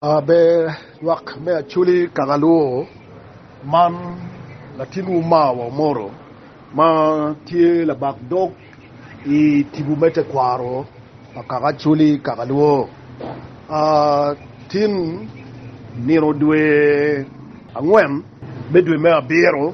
Ber lwak me Acholi kaka luwo, Man latinwu Mawa Omoro ma tye labak dog i tipo me tekwaro pa kaka Acholi kaka luwo, Tin nino dwe angwen me dwe me abiro,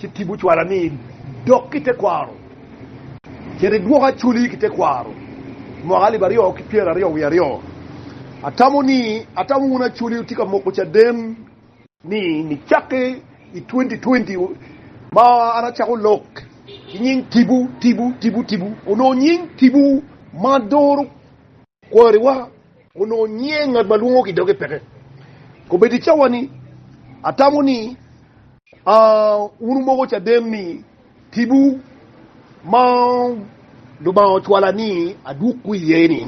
ci tipo cwala ni idok ki tekwaro, cit idwok acholi ki tekwaro mwaka alip aryo ki pyera aryo wiye aryo. Atamo ni atamo wun acholi wutye ka moko caden ni nicakke i twenty twenty ma an acako lok ki nying tipo tipo tipo tipo onongo nying tipo ma doro Kwariwa onongo nyieng ngat ma lwongo ki doge peke. Kobedo i cawa-ni, atamo ni wun wumoko caden ni tipo ma Lubanga ocwala ni adwogwu iye-ni,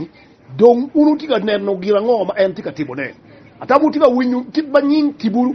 dong wun wutye ka neno gin ango ma en tye ka timone? Atamo wutye ka winyo kit ma nying tipo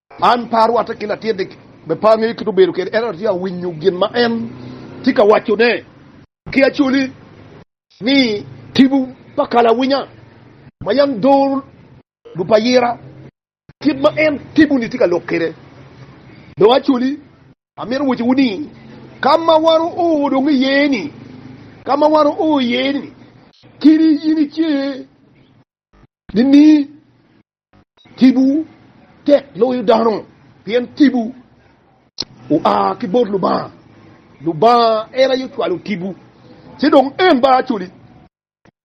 An pe arwatte ki latinni, me pe angeyo kit ma obedo kwede, ento atye ka winyo gin ma en tye ka wacone ki acoli ni. Tipo pa kalawinya ma yam doro dul pa ayira, kit ma en tipo-ni tye ka lok kwede. Dong acoli amito wacciwu ni, ka ma wan oo dong iye-ni, ka ma wan oo iye-ni, kadi in ice nining, Tipo tek loyo dano pien tipo oa ki bot Lubanga. Lubanga en aye ocwalo tipo, ci dong en ba acwali.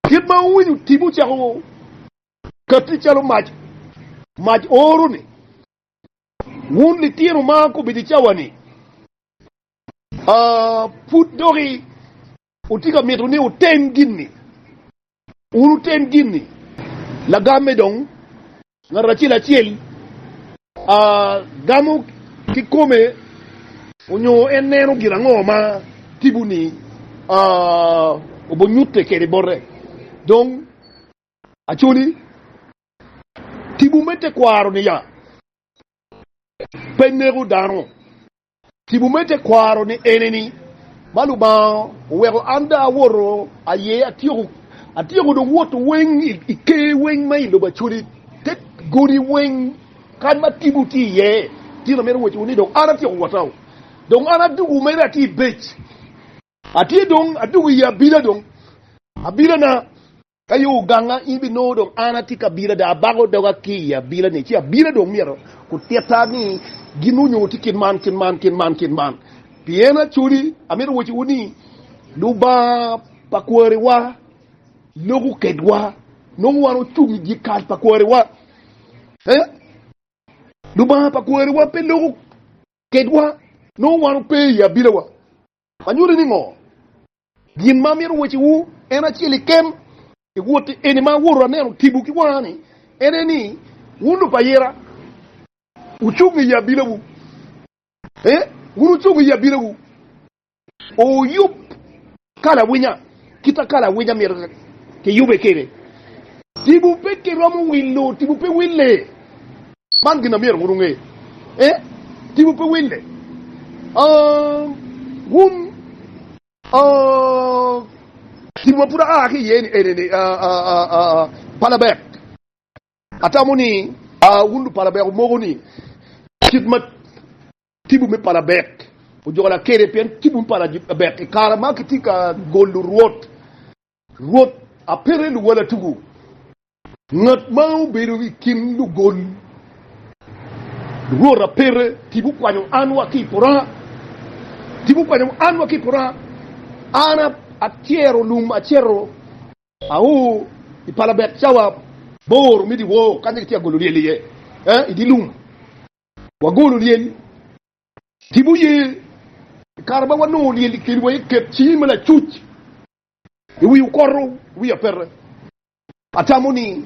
Kit ma wuwinyo tipo cako katti calo mac, mac oro ni, Wun litino ma gubedo i cawa-ni, pud dok i Wutye ka mito ni wutem gin-ni? Wun wutem gin-ni. Lagamme dong, ngat acel acel a gamo kikome onyo en neno gin ango ma tipo-ni obonyutte kede bote. Dong, acoli, tipo me tekwaro-ni ya pe neko dano. Tipo me tekwaro ni ene ni, ma Lubanga oweko an dong awoto aye atyeko, atyeko dong woto weng i ker weng ma i lobo Acoli, te godi weng kany ma tipo tye iye, gin amito wecciwu ni dong an atyeko wotau, dong an adugu mere atye i bec. Atye dong adwogo i abila dong, abilana. Ka yo oganga, in binongo dong an atye ki abila dok abako doga ki i abilani, ci abila dong myero gutitta ni gin onyo watye kit man, kit man, kit man, kit man. Pien actually amito waciwu ni Lubanga pa kwariwa loko kedwa, nongo wan ocung i dye kal pa kwariwa. Eh? Lubanga pa kwariwa pe loko kedwa, nongo wan ope i abilawa. Anyuti ni ngo? Gin ma amito wacci wu en acel i kem i wot eni ma awoto aneno tipo ki wanga ni, en aye ni, wun lub pa ayera wucung i abila wu, ee, wun wucung i abila wu, oo yub ka lawinya. Kite ka lawinya myero kiyube kede. Tibu pe kiromo wilo, tibu pe wille. Man gin na myero wun wunge. Eh, tibu pe wille. Uh, wun, uh, tibu ma pud aa ki iye-ni ene-ni, uh, uh, uh, uh, palabek. Atamo ni, uh, wun lupalabek omoko ni kit ma Tipo me pala bek ojolo kede pien tipo me pala bek i kare ma kitye ka golo Rwot, Rwot apele luwala tuku. Ngat ma obedo i kin lugol Rwot apele tipo kwanyo an wa ki i pora, tipo kwanyo an wa ki i pora. An atyero lum aceto ao i pala bek cawa bor me dyewor kanya kitye ka golo lyel iye i dye lum. Wagolo lyel ki buye i kare ma wanongo lyel i kinwa i ket cingi ma lacuc i wi okoto wiya pete. Atamo ni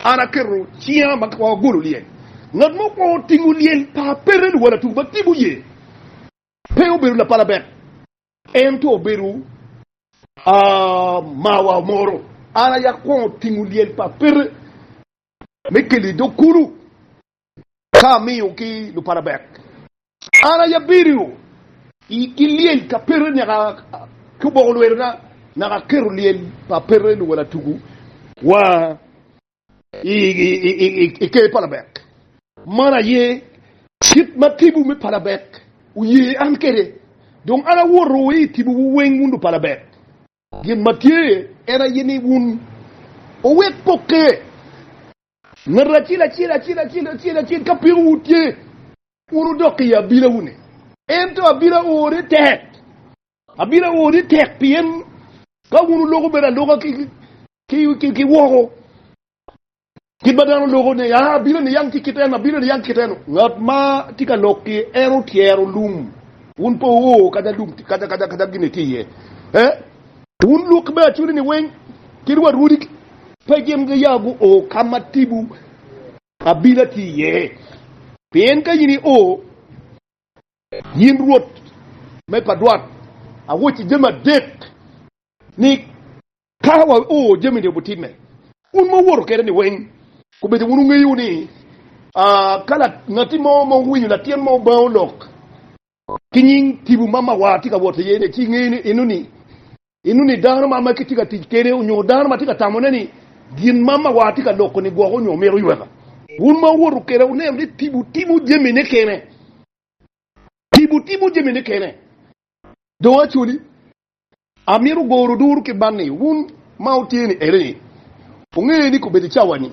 an aketo cinga ma ka wagolo lyel ngat mo kwo otingo lyel pa pete luwalatu ma ki buye pe obedo lapalabek ento obedo mawa moro. An aye akwongo tingo lyel pa pete me kelo i dog kulu ka amiyo ki luparabek. An aye abirio ki lyel ka pete naka ki oboko lwetena, naka aketo lyel pa pete luwel atugu wa i ker parabek. Man aye kit ma tibu me parabek oye an kwede, dong an awoto wa i tibuwu weng wun luparabek. Gin ma tye en aye ni wun wuwek pokke Ngatu acel acel, acel acel, acel acel, ka peko wu tye, wun wudok i abila wune. Ento abila ore tek, abila ore tek, pien ka wun wuloko bene aloka ki, ki, ki, ki woko, kit ma dano loko ni, ah, abila niang tye kit eno, abila niang kit eno. Ngat ma tye ka lok ki en otyero lum, wun pe wuo kadi alum, kadi, kadi, kadi gin ni tye iye. Eh? Wun lwak me acoleni weng kit wa rwodi ki. Pe gin gia guo ka ma tipo abila tye iye, pien ka in io, yin Rwot me pa dwat, awocci jami adek ni. Ka wao jami-ni obitimme, wun ma wuwoto kwede-ni weng kobedo wunu ngeyo ni, Ka ngat mo ma owinyo latin mo bango lok ki nying tibu ma mawar tye ka wot iye ni ci ingeyo ni eno ni eno ni dano ma ma kitye ka tic kede onyo dano ma tye ka tamone ni gin ma mawar tye ka loko ni gwoko onyo mito yweka. Wun ma wuwoto keda wuneno ni tibu timo jami ne kene. Tibu timo jami ne kene. Dong acoli Amito goro duru ki man ni wun ma wutye ni ere ni wunge ni kobedo i cawa ni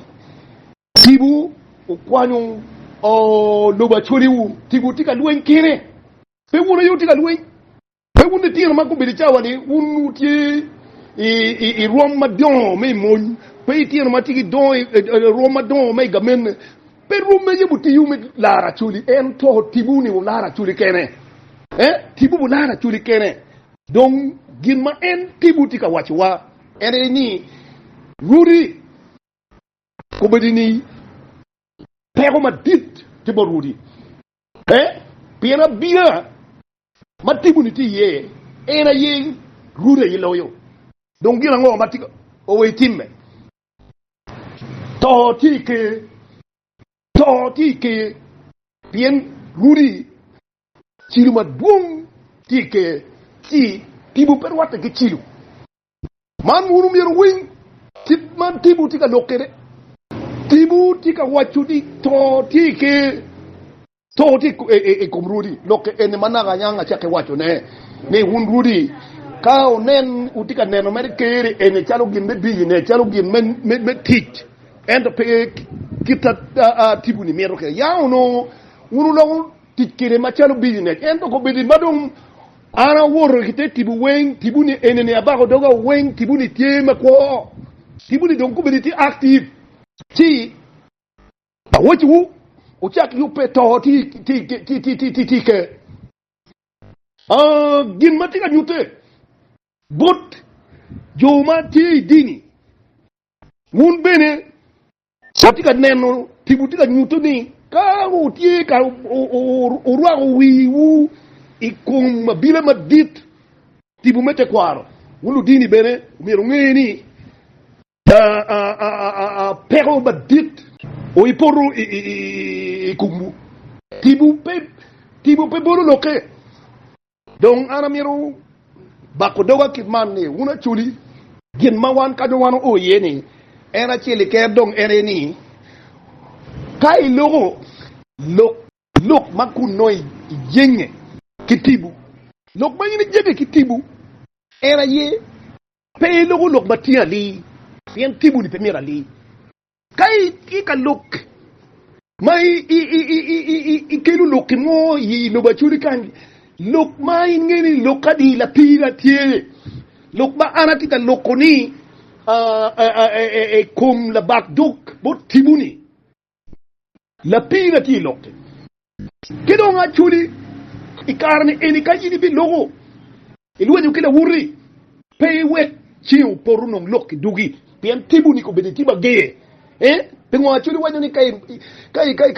tipo wukwanyo lobo acholi wu tipo wutye ka lweny kene pe wun aye wutye ka lweny pe wun litino ma kobedo i cawa ni wun wutye i rwom madongo me i mony pe itino ma tye ki rwom madongo me i gamene Pe rwom me yabo tiwu me lar acoli, ento tibu ni wular acoli kene. Ee, tibu wular acoli kene. Dong gin ma en tibu tye ka wacciwa en aye ni, Rwodi kobedi ni, Peko madit tye bot rwodi. Ee, pien abia ma tibu ni tye iye, en aye rwodi aye loyo. Dong gin ango ma tika owe itimme? To tye i Ker. To tye i Ker. Pien Rwodi cilo madwong tye i Ker, ci tipo pe rwatte ki cilo. Man wun omyero wuwiny kit ma tipo tye ka lok kwede. Tipo tye ka waco ni to tye i Ker. To tye i kom rwodi lok eni ma naka anyang acakke wacone, ni, Wun rwodi, ka wunen, wutye ka neno mere Ker eni calo gin me biyone, calo gin me tic, ento pe kit ma tiponi mito kwede, ya wunu, wun wulok wunu tic kwede macalo bijonec. Ento kobeddi ma dong an awoto ki te tipo weng, tiponi enini, abako doga weng, tiponi tye makwo, tiponi dong kobeddi tye active. Ci Awacciwu, wucak yubbe to tika. Gin ma tye ka nyutte bot jo ma tye i dini, wun bene wutye ka neno, pi wutye ka nyuto ni ka wutye ka wurwako wiwu i kom abila madit tipo me tekwaro, wun ludini bene omyero wunge ni Peko madit oipoto i komwu, tipo pe bolo lokke. Dong an amito bako doga kit man ni, wun acoli, gin ma wan kaco wan oo iye ni, en acel i ker dong en aye ni, ka iloko lok lok ma kun nongo ijenge ki tipo, lok ma in ijenge ki tipo en aye Pe iloko lok ma tye ali, pien timoni pe mit ali. Ka itye ka lok ma ikelo lok ki mo i lobo acoli kany, lok ma in ingeyo ni lok adi lapira tye, lok ma an atye ka loko-ni i kom labak dog bot timoni. Lapiina tye i lokke. Ki dong acoli i kare-ni eni ka in ibiloko, ilwenyo ki lawoti, pe iwek ceng opoto nong lok ki dugi, pien tipo-ni kobedo tipo ager. Ee, pingo acoli wanyo ni ka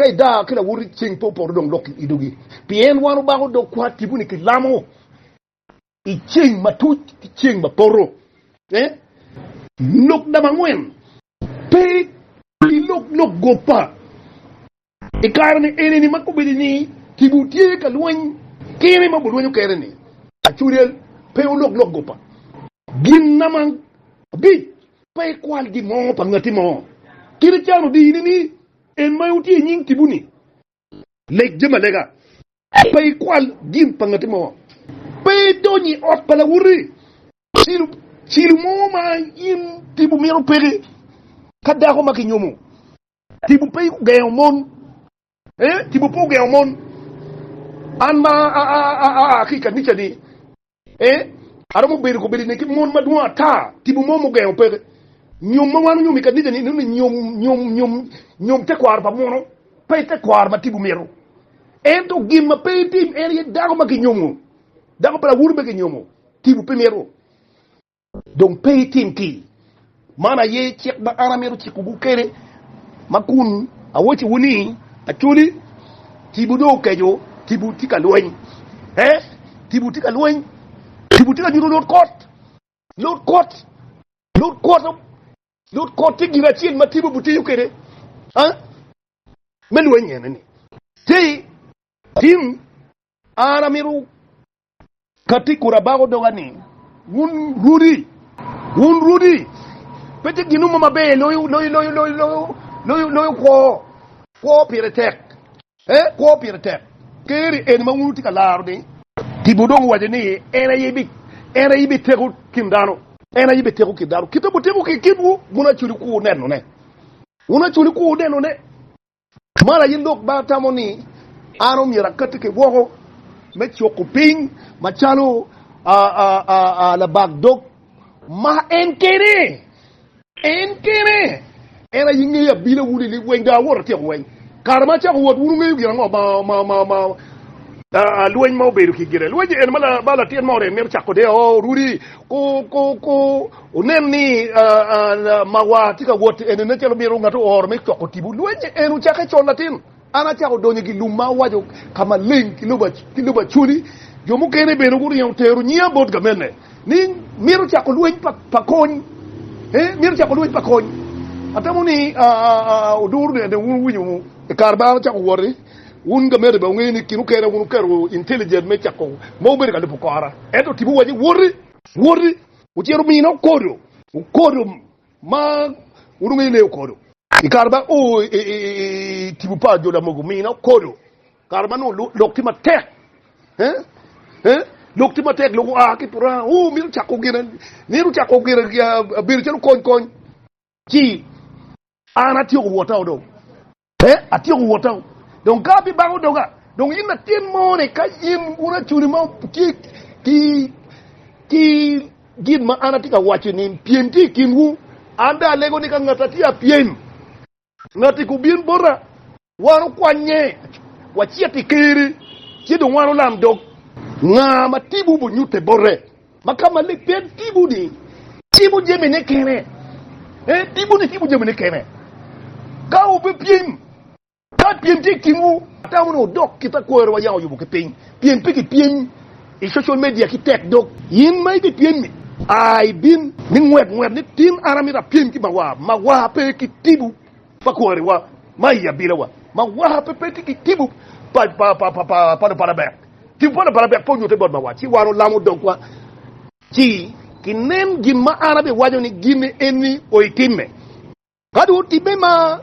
idaa ki lawoti ceng pe opoto dong lok ki dugi? Pien wan obako dog kwat tipo-ni ki lamo. I ceng matuc ki ceng ma poto, lok namba angwen pe ki lok lok goppa. I kare ni enini ma kobedo ni kibu tye ka lweny kene ma bulwenyo kene ni, Acuryel pe olok lok goppa. Gin namba abic pe ikwal gin mo pa ngati mo. Kit icano dini ni en ma wutye i nying kibu ni Leg jami alega, pe ikwal gin pa ngati mo, pe idony i ot pa lawote, cilo mo ma in tipo mito peke, ka dako ma kinyomo, tipo pe ogengo mon, ee, tipo pe ogengo mon. An ma aa ki i kanica-ni, Ee, aromo bedo kobedi ni ki mon madwong ata tipo mo mugengo peke. Nyom ma wan onyomo i kanica-ni inongo ni nyom, nyom, nyom, nyom tekwaro pa muno, pe tekwaro ma tipo mito. Ento gin ma pe itim en aye dako ma kinyomo. Dako pa lawunu be kinyomo, tipo pe mito. Dong pe itim tii. Man aye cik ma an amito cikowu kwede, ma kun awocciwu ni, Acholi, tipo dong okeco, tipo tye ka lweny, ee, tipo tye ka lweny, tipo tye ka nyuto lut kot, lut kot, lut kot, lut kot tye gin acel ma tipo bitiyo kwede me lweny ene ni, Ti, tim, an amito Ka tic kur abako doga ni, Wun rudi! Wun rudi! Pe tye gin mo maber loyo kwo. Kwo pire tek. Ee, kwo pire tek. Ker-ri eni ma wun wutye ka laro-ni. Tipo dong owaco ni, En aye ayibi teko kin dano. En ayibi teko kin dano. Kite buteko ki i kinwu, wun acwali kur nenone. Wun acwali kur nenone. Man aye lok ma atamo ni an omyero akati ki woko me cuku piny macalo labak dog ma en kene. En kene. En aye ngeyo abila wunu i lweny, dong awoto atyeko lweny. Kare ma acako wot, wun wungeyo gin ango ma lweny ma obedo ki gire? Lweny eni ma latin mo orem mito cako de, oh, Rudi, ku, ku, ku. Wunen ni mawa tye ka wot eni nen calo myero ngat ooro me coko tipo lweny en ocakke col latin. An acako donyo i gilum ma awaco ka maleng ki lobo acoli. Jo mukene bene guringo gutero nyiya bot gamene ni myero cako lweny pa kony. Ee, myero cako lweny pa kony. Atamo ni oduro nene wun wuwinyo i kare ma an acako woti. Wun gamene bene wungeyo ni kin okene wun wuketo intelligent me cako mo wubedo ka lubo kora. Ento tipo waco woti! Woti! Ocito omine okodo, okodo ma onongo ene okodo. I kare ma o i tipo pa jo Lamogo, omine okodo kare ma nongo lok tye matek, lok tye matek, lok oa ki i puranga, o mito cako gin, mito cako gin bedo calo kony kony. Ci an atyeko wota dong. Pe, atyeko wota. Dong ka abibango doga. Dong in latin moni, ka in racuni ma tye ki, ki gin ma an atye ka waco ni pyem tye i kinwu, an dong alego ni ka ngat atye apyem, ngat-ti ka obin bota, wan okwanye, wacit i Ker-ri, ci dong wan olam dog. Nga ma timwu obonyutte bote. Ma ka malik pe tipo-ni tipo jamine kene, pe tipo-ni tipo jamine kene. Ka wubipyem, ka pyem tye i kinwu, atamo ni wudok kit ma kwerewa yam oyubo ki piny, pien pe kipyem i social media ki tek dog. In ma ibipyem-mi, a ibin, ni ngwet ngwet ni, 'Tin an amito apyem ki mawa. Mawa pe ki tipo. Pa kwariwa ma i abinawa ma waka pe pe tye ki tipo pa Lupalabek. Tipo pa Lupalabek pe onyute bot mawa, ci wan olamo dogwa, ci kinen gin ma an abiwaco ni gin eni oitimme. Ka dong otimme ma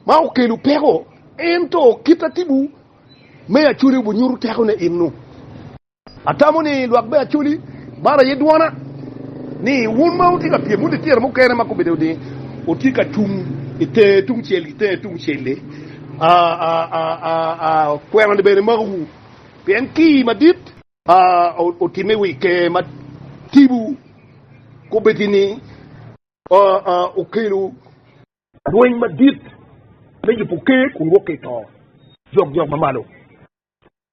ma okelo peko, ento kit ma tipo me acoli obinyuto tekone eno. Atamo ni lwak me Acoli bar aye dwona ni wun ma wutye ka pyem wun litira mukene ma gubedo ni wutye ka cung i tenge tungcel ki tenge tungcel-li, akwena ni bene imakuwu, pien kii madit otimme i wi Ker ma tipo kobeddi-ni, okelo lweny madit me yubo Ker kun wok ki i to jokjok ma malo.